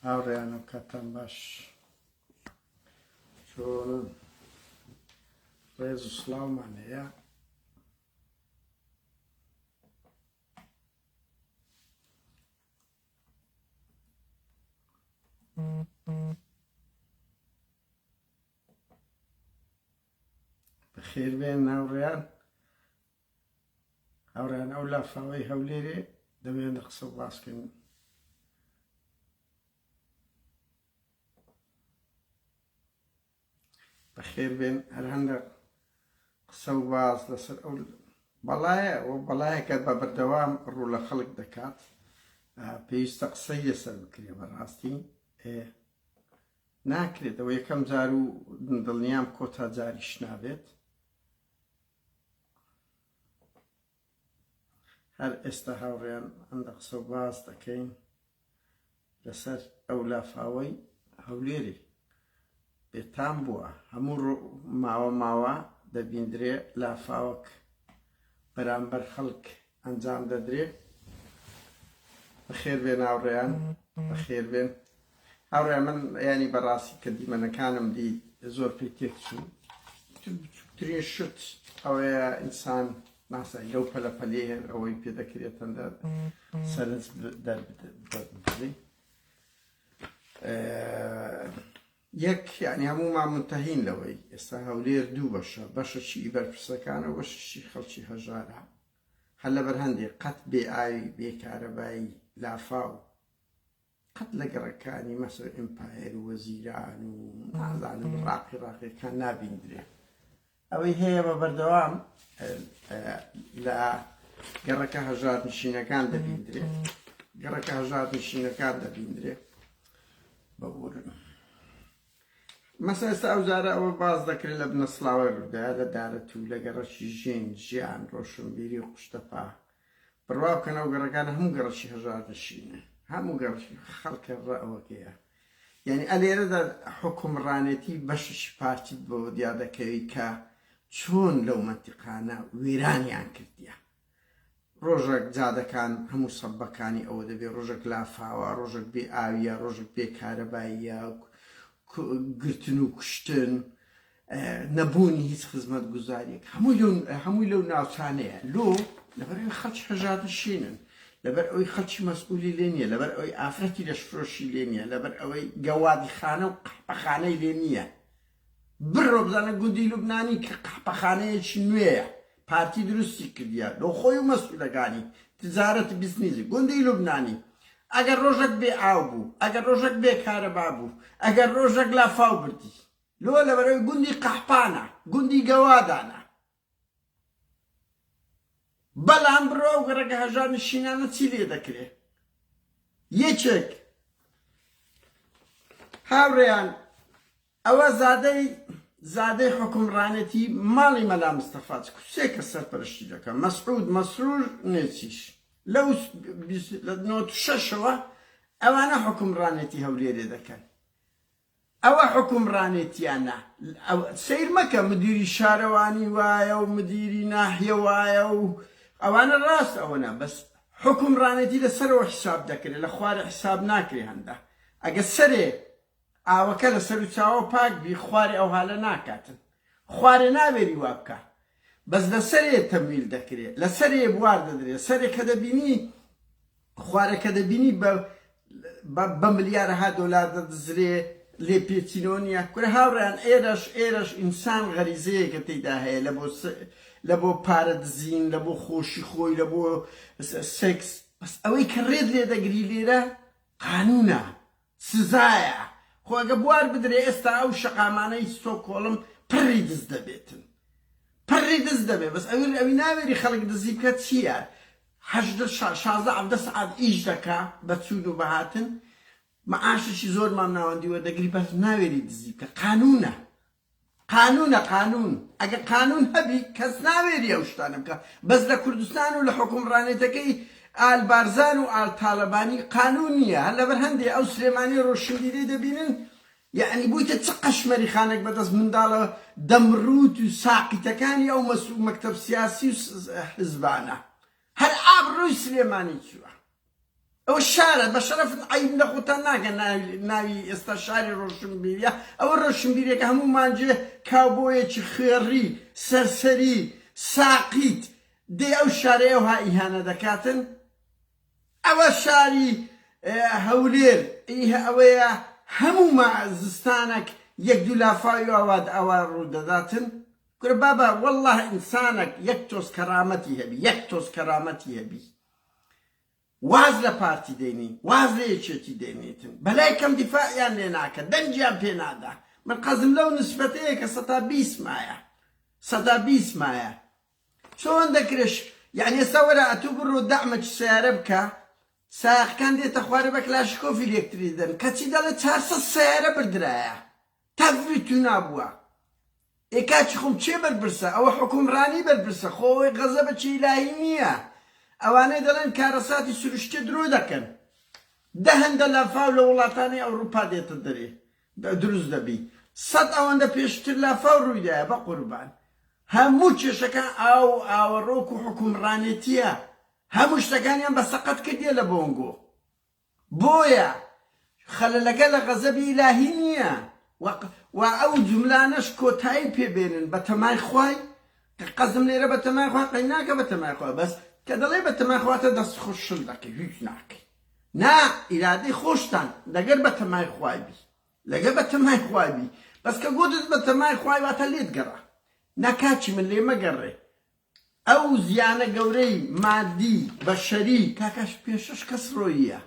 هاوڕێیانم کاتان باش چۆنن ڕێز و سڵاومان هەیە بەخێر بێن ناوڕێیان هاوڕێیان ئەو لافاوەی هەولێرێ دەمێن دە قسە باسکەن بەخێر بێن هەر هەندە قسە و باز لەسەر ئەو بەڵایە و بەڵایەکە بە بەردەوام ڕوو لە خەڵک دەکات پێویستە قسەی لەسەر بکرێ بەڕاستی ناکرێتەوە یەکەم جار و دڵنیام کۆتا جاریش نابێت هەر ئێستا هاوڕێیان ئەندە قسە و باس دەکەین لەسەر ئەو لافاوەی هەولێری بێتام بووە هەموو ماوە ماوە دەبیندرێ لافاوەک بەرامبەر خەڵک ئەنجام دەدرێ بەخێر بێن هاوڕێیان بەخێر بێن هاوڕێ من ینی بەڕاستی کە دیمەنەکانم دی زۆر پێ تێکچوو بچووترین شت ئەوەیە ئینسان ناسای لەو پەلەپەلێ ئەوەی پێ دەکرێتەن سەرنج دەربدەی یەک یانی هەموومان مونتەهین لەوەی ئێستا هەولێر دوو بەشە، بەشەکی ی بەرپرسەکانە و بەشەکی خەڵکی هەژارە، هەر لەبەر هەندێک قەت بێ ئاوی بێ کارەبایی لافاو قەت لە گەڕەکانی مەسە و ئیمپایەر و وەزیران و نازانم ڕاقی ڕاقیەکان نابیندرێ ئەوەی هەیە بە بەردەوام لە گەڕەکە هەژات نشینەکان دەبیندرێ گەڕەکە هەژات نشینەکان دەبیندرێ بەبورن مەسە ئێستا ئەو جارە ئەوە باز دەکرێت لە بنەسلاوی ڕوودا لە دارە تو لە گەڕەکی ژین ژیان ڕۆشنبیری و قشتەپا بڕوا بکەنەوە گەڕەکان هەموو گەڕەکی هەژار نشینە هەموو گەڕ خەڵکە ڕەوەکەیە یانی ئەلێرەدا حوکمڕانێتی بەشێکی پارتیت بۆ دیا دەکەوی کە چۆن لەو مەنتیقانە وێرانیان کردیە ڕۆژەک جادەکان هەموو سەبەکانی ئەوە دەبێ ڕۆژەک لافاوە ڕۆژەک بێ ئاویە ڕۆژەک بێ کارەباییە گرتن و کوشتن نەبوونی هیچ خزمەتگوزاریەک هەمووی لەو ناوچانەیە لۆ لەبەر ئەوی خەڵکی هەژارنشینن لەبەر ئەوی خەڵکی مەسئولی لێ نییە لەبەر ئەوی ئافرەتی لەشفرۆشی لێ نییە لەبەر ئەوەی گەوادی خانە و قەحپەخانەی لێ نییە بڕۆ بزانە گوندی لوبنانی کە قەحپەخانەیەکی نوێیە پارتی دروستی کردیە لۆ خۆی و مەسئولەکانی تجارەت بزنیزی گوندی لوبنانی ئەگەر ڕۆژەک بێ ئاو بوو ئەگەر ڕۆژەک بێ کارەبا بوو ئەگەر ڕۆژەک لافاو بردی لۆ لەبەرەوەی گوندی قەحپانە گوندی گەوادانە بەلام بڕۆ ئەو گەڕەکە هەژار نشینانە چی لێ دەکرێ یەکێک هاوڕێیان ئەوە زادەی زادەی حکومڕانێتی ماڵی مەلا مستەفاات کوسێ کە سەرپەرشتی دەکەم مەسعود مەسرور نێچیش لەو شەشەوە ئەوانە حکومڕانێتی هەولێرێ دەکەن ئەوە حوکمڕانێتیانە سەیر مەکە مدیری شارەوانی وایە و مدیری ناحیە وایە و ئەوانە ڕاست ئەوەنە بەس حوکمڕانێتی لە سەرەوە حیساب دەکرێ لە خوارێ حیساب ناکرێ هەندە ئەگە سەرێ ئاوەکە لە سەرو چاوە پاک بی خوارێ ئەوهالە ناکاتن خوارێ ناوێری وابکا بەس لە سەرێ تەمویل دەکرێ لە سەرێ بوار دەدرێ سەرێ کە دەبینی خوارە کە دەبینی بە بە ملیارەها دۆلار دەدزرێ لێ پێچینەوە نییە کورە هاوڕێیان ئێرەش ئێرەش ئینسان غەریزەیەکە تێدا هەیە لە بۆ لە بۆ پارە دزین لە بۆ خۆشی خۆی لە بۆ سێکس بەس ئەوەی کە ڕێت لێ دەگری لێرە قانوونە سزایە خۆ ئەگە بوار بدرێ ئێستا ئەو شەقامانەی ستۆکۆڵم پڕی دز دەبێتن پڕی دز دەبێ بەس ئەوی ئەوی ناوێری خەڵک دزی بکە چیە هەژدە شازدە عەڤدە سەعات ئیش دەکا بە چوون و بەهاتن معاشێکی زۆرمان ناوەندی وەردەگری بەس ناوێری دزی بکە قانوونە قانونە قانون ئەگەر قانون هەبی کەس ناوێری ئەو شتانە بکا بەس لە کوردستان و لە حوکمڕانێتەکەی ئال بارزان و ئال تالەبانی قانون نیە هەر لەبەر هەندێ ئەو سلێمانی ڕۆشنبیرەی دەبینن یەعنی بویتە چ قەشمەریخانەک بەدەست منداڵە دەمڕوت و ساقیتەکانی ئەو مەکتەب سیاسی و حزبانە هەر ئابڕوی سلێمانی چوە. ئەوە شارە بەشەرەفت عەیب لە خۆتان ناکەن ناوی ئێستا شاری ڕۆشنبیریە ئەوە ڕۆشنبیرێکە هەموو مانجێ کاوبۆیەکی خوێڕی سەرسەری ساقیت دێ ئەو شارەیە وها ئیهانە دەکاتن ئەوە شاری هەولێر ئەوەیە هەموو ما زستانەک یەک دوو لافاوی ئاواد ئاوا ڕوودەداتن کورە بابا والله ئینسانەک یەک تۆز کەرامەتی هەبی یەک تۆز کەرامەتی هەبی واز لە پارتی دەینی واز لە یەکێتی دەینیتن بەلای کەم دیفاعیان لێ ناکە دەنگیان پێ نادا من قەزم لەو نسبەتەیە کە سەتا بیست مایە سەتا بیست مایە چۆن دەکرێش یعنی ئێستا وەرە ئەتوو بڕۆ دەعمەکی سیارە بکە ساقەکان دێتە خوارە بە کلاشکۆفی لێکتری دەن کەچی دەڵێ چارسە سیارە بردرایە تف بتو نابوە ئێ کاچی خۆم کێ بەرپرسە ئەوە حوکم رانی بەرپرسە خۆ ئەوەی غەزە بە چی ئیلاهی نیە ئەوانەی دەڵێن کارەساتی سروشتیە درۆ دەکەن دە هەندە لافاو لە وڵاتانی ئەوروپا دێتە دەرێ دروست دەبی سەد ئەوەندە پێشتر لافاو رویدایە بە قوربان هەموو کێشەکان ئاو ئاوەڕۆک و حوکم رانێتیە هەموو شتەکانیان بە سەقەت کردیە لە بۆنگۆ بۆیە خەلەلەکە لە غەزەبی ئیلاهی نییە و ئەو جوملانەش کۆتایی پێ بێنن بەتەمای خوای کە قەزم لێرە بەتەمای خوا قەی ناکە بەتەمای خوا بەس کە دەڵێ بەتەمای خوا تە دەست خوش شل دەکەی هیچ ناکەی نا ئیرادەی خۆشتان دەگەر بەتەمای خوای بی لەگە بەتەمای خوای بی بەس کە گۆتت بەتەمای خوای واتە لێت گەڕا نا کاچی من لێ مەگەڕێ ئەو زیانە گەورەی مادی بەشەری کاکاش پێشەش کەس رۆییە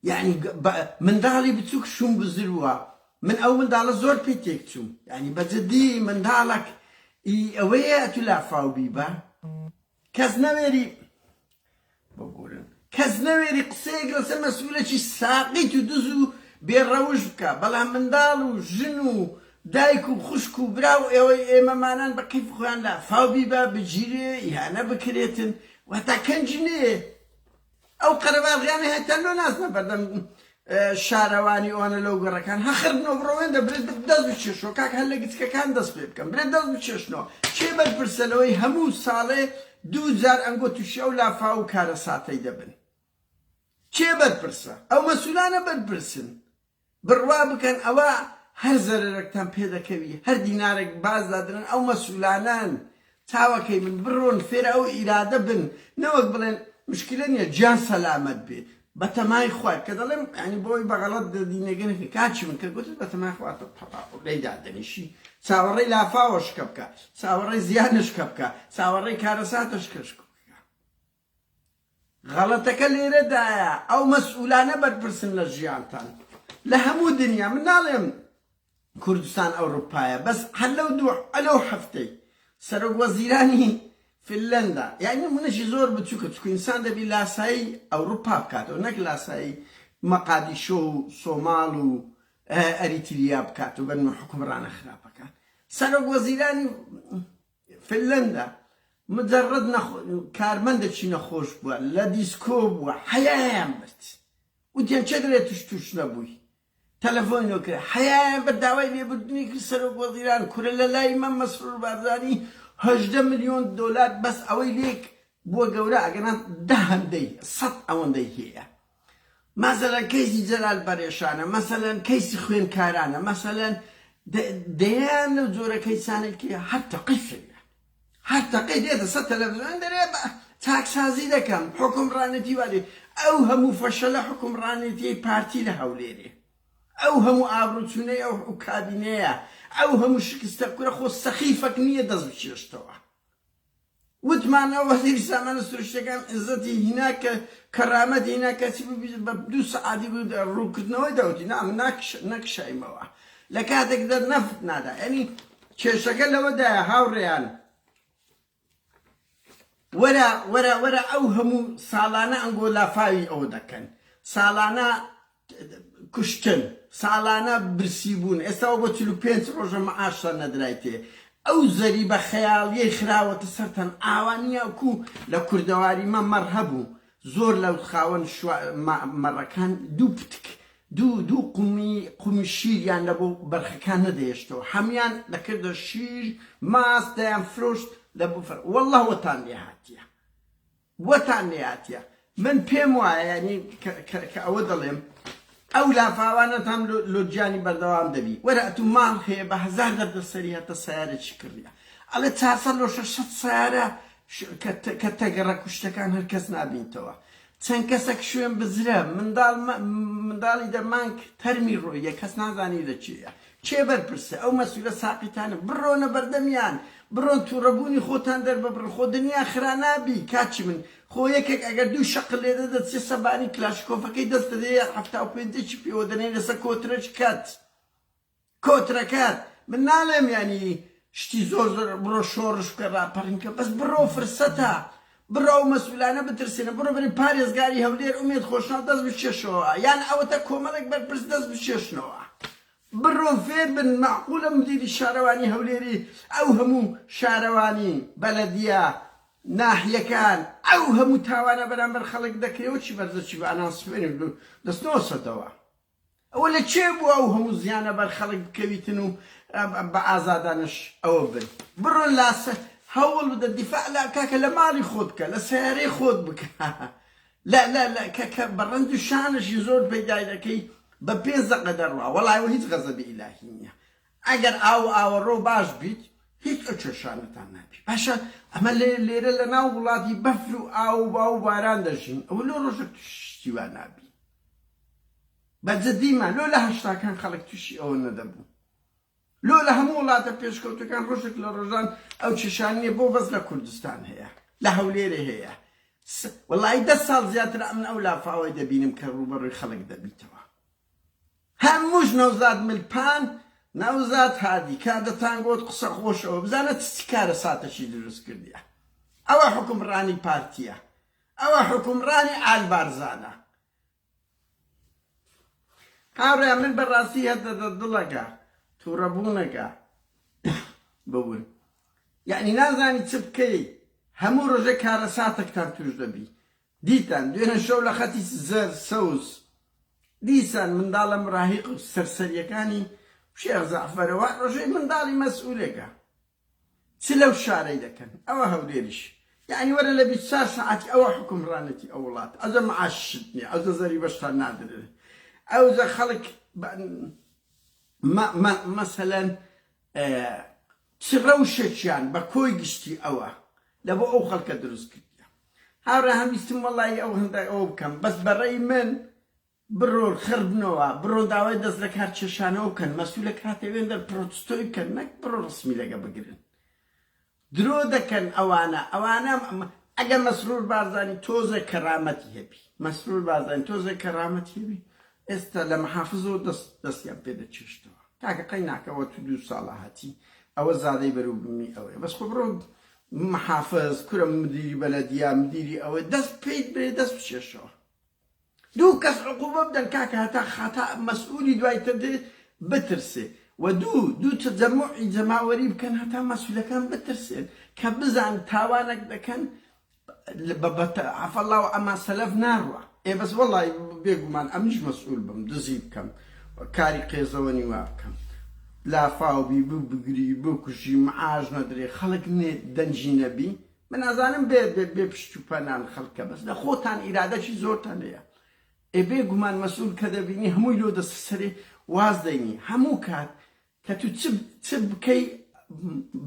یانی بە منداڵی بچوک شوم بزروە من ئەو منداڵە زۆر پێ تێک چوم یانی بە جدی منداڵەک ئی ئەوەیە ئەتو لافاو بی بە کەس نەوێری ببورن کەس نەوێری قسەیەک لەسەر مەسئولێکی ساقیت و دز و بێ ڕەوشت بکا بەڵام منداڵ و ژن و دایک و خوشک و برا و ئێوەی ئێمەمانان بە کەیف خۆیان لافاو بیبا بگیرێ ئیهانە بکرێتن واتا کەنجی نەیێ ئەو قەرەباڵغیانەی هەتا لۆ ناچنە بەردەم شارەوانی ئەوانە لەو گەڕەکان هەخردنەوە بڕەوێندە برێ دەست بچێشەوە کاک هەر لە گچکەکان دەست پێ بکەم برێ دەست بچێشنەوە کێ بەرپرسە لەوەی هەموو ساڵێ دوو جار ئەنگۆ تووشی ئەو لافاو و کارەساتەی دەبن کێ بەرپرسە ئەو مەسولانە بەرپرسن بڕوا بکەن ئەوە هەر زەرەرەکتان پێ دەکەوی هەر دینارێک باز دادرن ئەو مەسولانەن چاوەکەی من بڕۆن فێر ئەو ئیرادە بن نەوەک بڵێن مشکلە نیە گیان سەلامەت بێ بەتەمای خوات کە دەڵێم یانی بۆی بەغەڵەت دەدینەگە نەکەی کاکی من کە گوتت بەتەمای خوات تەواو لێی دادەنیشی چاوەڕێی لافاوەشکە بکە چاوەڕێی زیانشکە بکە چاوەڕێی کارەساتەشکەشکە غەڵەتەکە لێرەدایە ئەو مەسئولانە بەرپرسن لە ژیانتان لە هەموو دنیا من ناڵێم کوردستان ئەوروپایە بەس هەر لەو دوو ئەلەو هەفتەی سەرۆک وەزیرانی فنلەندا یعنی نمونەشی زۆر بچووکە چکو ئینسان دەبی لاسایی ئەوروپا بکاتەوە نەک لاسایی مەقادیشۆ و سۆماڵ و ئەریتریا بکاتەوە بەنمە حکومڕانە خراپەکان سەرۆک وەزیرانی فنلەندا مجەڕەد کارمەندەکی نەخۆش بووە لە دیسکۆ بووە حەیایان برد وتیان چێ دەلێ توش توش نەبووی تەلەفۆنی لۆ کرد حەیایان بە داوای لێبردنی کرد سەرۆک وەزیران کورە لە لای مە مەسرور بارزانی هەژدە ملیۆن دۆلار بەس ئەوەی لێک بووە گەورە ئەگەنا دە هەندەی سەد ئەوەندەی هەیە مەسەلەن کەیسی جەلال بەرێشانە، مەسەلەن کەیسی خوێندکارانە، مەسەلەن دەیان لەو جۆرە کەیسانەی کە هەر تەقەی فێریان، هەر تەقەی دێتە سەر تەلەفزیۆن دەرێ بە چاکسازی دەکەم، حوکمڕانێتی وا دێ، ئەو هەموو فەشەلە حوکمڕانێتیی پارتی لە هەولێرێ، ئەو هەموو ئابڕووچوونەی ئەو کابینەیە، ئەو هەموو شکستە، کورە خۆ سەخیفەک نییە دەست بچێشتەوە. وتمان ئەوە هی سامانە سروشتیەکان عزەتی هینا کە کەرامەتی هینا کەچی ببیت بە دوو سەعاتی بوو دە ڕووکردنەوەی دەوتی نا من ناکش نەکشایمەوە لە کاتێک دە نەفت نادا یعنی کێشەکە لەوەدایە هاوڕێیان وەرە وەرە وەرە ئەو هەموو ساڵانە ئەنگۆ لافاوی ئەوە دەکەن ساڵانە کوشتن ساڵانە برسی بوون ئێستا وە بۆ چل و پێنج ڕۆژە معاش سەرنەدرایتێ ئەو زەریبە خەیاڵیەی خراوەتە سەرتان ئاوا نیە وەکو لە کوردەواری مە مەڕ هەبوو زۆر لە خاوەن شوا مە مەڕەکان دوو پتک دوو دوو قومی قومی شیریان لە بۆ بەرخەکان نەدەهێشتەوە حەمیان دەکردە شیر ماست دەیان فرۆشت لە بفر واللە وەتان لێ هاتیە وەتان نەیاتیە من پێم وایە یانی کە ئەوە دەڵێم ئەو لافاوانەتان لۆ گیانی بەردەوام دەبی وەرە ئەتوو ماڵ هەیە بە هەزار دەردە سەری هەتە سەیارەی کڕیە ئەڵێ چارسە لۆ شەشەت سەیارە کە تەگەڕە کوشتەکان هەر کەس نابینتەوە چەند کەسەک شوێن بزرە منداڵ منداڵی دەمانک تەرمی ڕۆیە کەس نازانی لە چێە کێ بەرپرسە ئەو مەسولە ساقیتانە بڕۆنە بەردەمیان بڕۆن توڕە بوونی خۆتان دەرببڕن خۆ دنیا خرا نابی کاچی من خۆ یەکێک ئەگەر دوو شەقل لێدەدەت سێ سەبانی کلاشکۆفەکەی دەستە دێ یار حەفتا و پێنجەکی پێوە دەنێ لەسە کۆترەچ کەت کۆترەکەت من نالێم یانی شتی زۆر زۆر بڕۆ شۆڕش بکە ڕاپەڕین کە بەس بڕۆ فرسەتە بڕاو مەسولانە بترسێنە بڕۆ بەرێ پارێزگاری هەولێر ئومێد خۆشناو دەست بکێشەوە یان ئەوەتە کۆمەڵێک بەرپرس دەست بکێشنەوە بڕۆ فێر بن مەعقولە مدیری شارەوانی هەولێری ئەو هەموو شارەوانی بەلەدیە ناحیەکان ئەو هەموو تاوانە بەرامبەر خەڵک دەکرێ و چی بەرزە چی بە ئەنانسمێنت دەستنەوە سەدەوە. ئەوە لە کوێ بوو ئەو هەموو زیانە بەر خەڵک بکەویتن و بە ئازادانەش ئەوە بن؟ بڕۆ لا هەوڵ بدە دیفاع لە کاکە لە ماڵی خۆت بکە، لە سەیارەی خۆت بکە. لە لە لە کە کە بە ڕەنج و شانشی زۆر پەیدای دەکەی بە پێنج دەقە دەڕوا وەڵا ئەوە هیچ غەزەبی ئیلاهی نییە. ئەگەر ئاو و ئاوەڕۆ باش بیت هیچ ئەو کێشانەتان نابی. باشە ئەمە لێ لێرە لە ناو وڵاتی بەفر و ئاو و باو و باران دەژین ئەوە لۆ ڕۆژێک شتی وا نابی. بە جدی ما لۆ لە هەشتاکان خەڵک توشی ئەوە نەدەبوو لۆ لە هەموو وڵاتە پێشکەوتەکان ڕۆژێک لە ڕۆژان ئەو کێشان نیە بۆ بەس لە کوردستان هەیە لە هەولێرێ هەیە وەڵای دە ساڵ زیاتر ئەمن ئەو لافاوەی دەبینم کە ڕووبەڕووی خەڵک دەبیتەوە هەمووش نەوزاد ملپان نەوزاد هادی کادەتان گۆت قسە خۆشەوە بزانە چ کارە ساتەشی دروست کردیە ئەوە حکومڕانی پارتیە ئەوە حکومڕانی ئالبارزانە هاورێیان من بە ڕاستی هە دە دە دڵە گە توڕە بوونە گە بە ون یانی نازانی چ بکە ی هە موو ڕژە کارە ساتە کتان توش دە بی دیتان دوێنە شەو لە خەتی زە سەوز دیسان منداڵە مراهیق و سەرسەریەکانی شێخ زەعفەرە وە ڕژەی منداڵی مەسئولە گە چ لەو شارەی دەکەن ئەوە هەولێریش یەعنی وەرە لە بیست چار سەعاتی ئەوە حوکمڕانێتی ئەو وڵاتە ئەوجە معاششت نیە ئەوجە زەریبەشت هەر نادرێ ئەوجە خەڵک مەسەلەن چ ڕەوشێکیان بە کۆی گشتی ئەوە لە بۆ ئەو خەڵکە دروست کردیە هاوڕێ هەم ویستم وەڵی ئەو هەندای ئەوە بکەم بەس بەڕێی من بڕۆ خڕ بنەوە بڕۆ داوای دەست لەکار کێشانەوە بکەن مەسولە کاتێ وێندەر پڕۆتستۆی بکەن نەک بڕۆ ڕسمی لەگە بگرن درۆ دەکەن ئەوانە ئەوانە ئەگە مەسرور بارزانی تۆزێ کەرامەتی هەبی مەسرور بارزانی تۆزێ کەرامەتی هەبی ئێستا لە محافزەوە دەست دەستیان پێ دەچێشتەوە کاکە قەی ناکەوە تو دوو ساڵە هەتی ئەوە زادەی بەرو بمی ئەوەیە بەس خۆ بڕۆ محافز کورە مدیری بەلەدیا مدیری ئەوە دەست پیت برێ دەست بچێشەوە دوو کەس عقوبە بدەن کاکە هەتا خەتا مەسئولی دوای تر دێ بترسێ وە دوو دوو تەجەموعی جەماوەری بکەن هەتا مەسولەکان بترسێن کە بزان تاوانەک دەکەن بە بە عەفا اللە و عەما سەلەف ناڕوا ئێ بەس وەڵای بێگومان ئەمنیش مەسئول بم دزی بکەم کاری قێزەوەنی وا بکەم لافاو بی ببگری بکوژی معاش نەدرێ خەڵک نێ دەنگی نەبی من ئەزانم بێ بێ بێ پشت و پەنان خەلکە بەس لە خۆتان ئیرادەکی زۆرتان هەیە ئێ بێ گومان مەسول کە دەبینی هەمووی لۆ دەستە سەرێ واز دەینی هەموو کات کە تو چ چ بکەی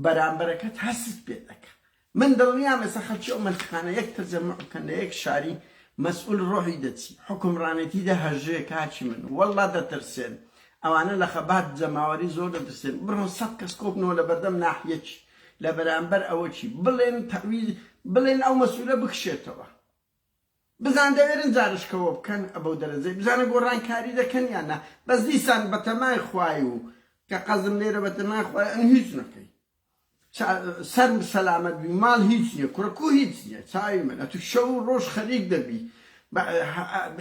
بەرامبەرەکەت هەستت پێ دەکە من دڵنیام ئێستا خەلکی ئەو مەنتقانە یەک تەرجەموع بکەن لە یەک شاری مەسئول ڕۆحی دەچی حوکمڕانێتی دەهەژێ کاکی من وەڵڵا دەترسێن ئەوانە لە خەبات جەماوەری زۆر دەترسێن بڕۆن سەد کەس کۆبنەوە لە بەردەم ناحیەکی لەبەرامبەر ئەوە چی بڵێن تەعویز بڵێن ئەو مەسولە بکشێتەوە بزان دەوێرن زارشکەوە بکەن ئەبەو دەرەجەی بزانە گۆڕانکاری دەکەن یان نا بەس دیسان بەتەمای خوای و کە قەزم لێرە بەتەمای خوای ئەن هیچ نەکەی سەر سەلامەت بی ماڵ هیچ نییە کوڕکو هیچ نییە چاوی من ئەتو شەو ڕۆژ خەریک دەبی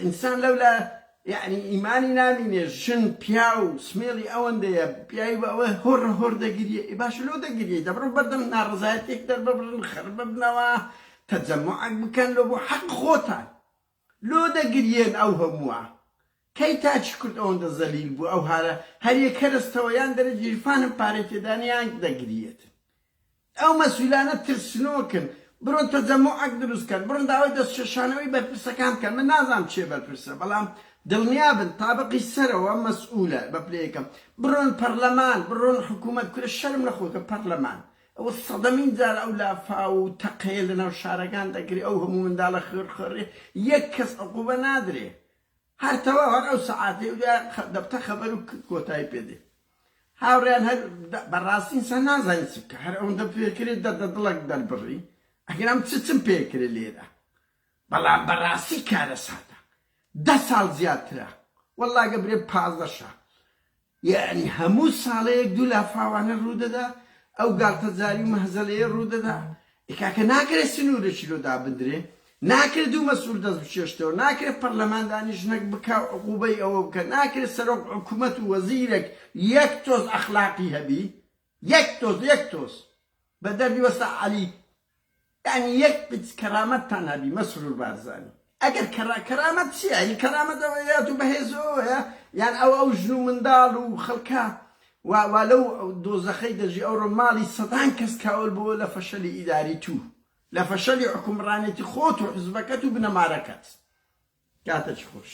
ئینسان لەولا یەعنی ئیمانی نامینێ ژن پیاو سمێڵی ئەوەندەیە پیاوی بە ئەوە هۆڕ هۆڕ دەگریێ ئێ باشە لۆ دەگریێی دەبڕۆ بەردەم ناڕەزایەتێک دەرببڕن خەرببنەوە تەجەموعەک بکەن لۆ بۆ حەق خۆتان لۆ دەگریێن ئەو هەمووە کەی تاکی کورد ئەوەندە زەلیل بوو ئەو هارە هەریەک هەرەستەوە یان دەرە گیرفانم پارەی تێدانە یان دەگریێت ئەو مەسولانە ترسنۆکن بڕۆن تەجەموعەک دروست کەن بڕۆن داوای دەست چێشانەوەی بەرپرسەکان بکەن من نازانم کێ بەرپرسە بەڵام دڵنیا بن تابقی سەرەوە مەسئولە بە پلە یەکەم بڕۆن پەڕلەمان بڕۆن حکومەت کورە شەرم لە خۆتە پەڕلەمان ئەوە سەدەمین جار ئەو لافاو و تەقەیە لەناو شارەکان دەکرێ ئەو هەموو منداڵە خوێڕ خوێڕیە یەک کەس عقوبە نادرێ هەر تەواو هەر ئەو سەعاتەی و دەبتە خەبەر و کۆتایی پێ دێ هاوڕێیان هەر بەڕاستی ئینسان نازانی چ بکە هەر ئەوەندە پێ کرێ دەردە دڵەک دەربڕی ئەگەرم چ چم پێ کرێ لێرە بەڵام بەڕاستی کارەساتە دە ساڵ زیاترە وەڵڵا گەبرێ پازدە شە یەعنی هەموو ساڵەیەک دوو لافاوانە ڕوودەدا ئەو گاڵتەجاری و مەهزەلەیە ڕوودەدا ئێ کاکە ناکەێ سنوورێکی لۆ دابندرێ ناکرێ دوو مەسئول دەست بکێشتەوە ناکرێ پەرلەمان دانیشتنەک بکا و عقوبەی ئەوە بکا ناکرێ سەرۆک حکومەت و وەزیرەک یەک تۆز ئەخلاقی هەبی یەک تۆز یەک تۆز بە دەردی وەستا عەلی یانی یەک پچ کەرامەتتان هەبی مەسرور بارزانی ئەگەر کەرا کەرامەت چیە ئەی کەرامەت ئەوەیە تو بەهێزەوەیە یان ئەو ئەو ژن و منداڵ و خەڵکە وا وا لەو دۆزەخەی دەژی ئەوڕۆ ماڵی سەدان کەس کاول بووە لە فەشەلی ئیداری تو لە فەشەلی حوکمڕانێتی خۆت و حزبەکەت و بنەمارەکەت کاتەکی خۆش.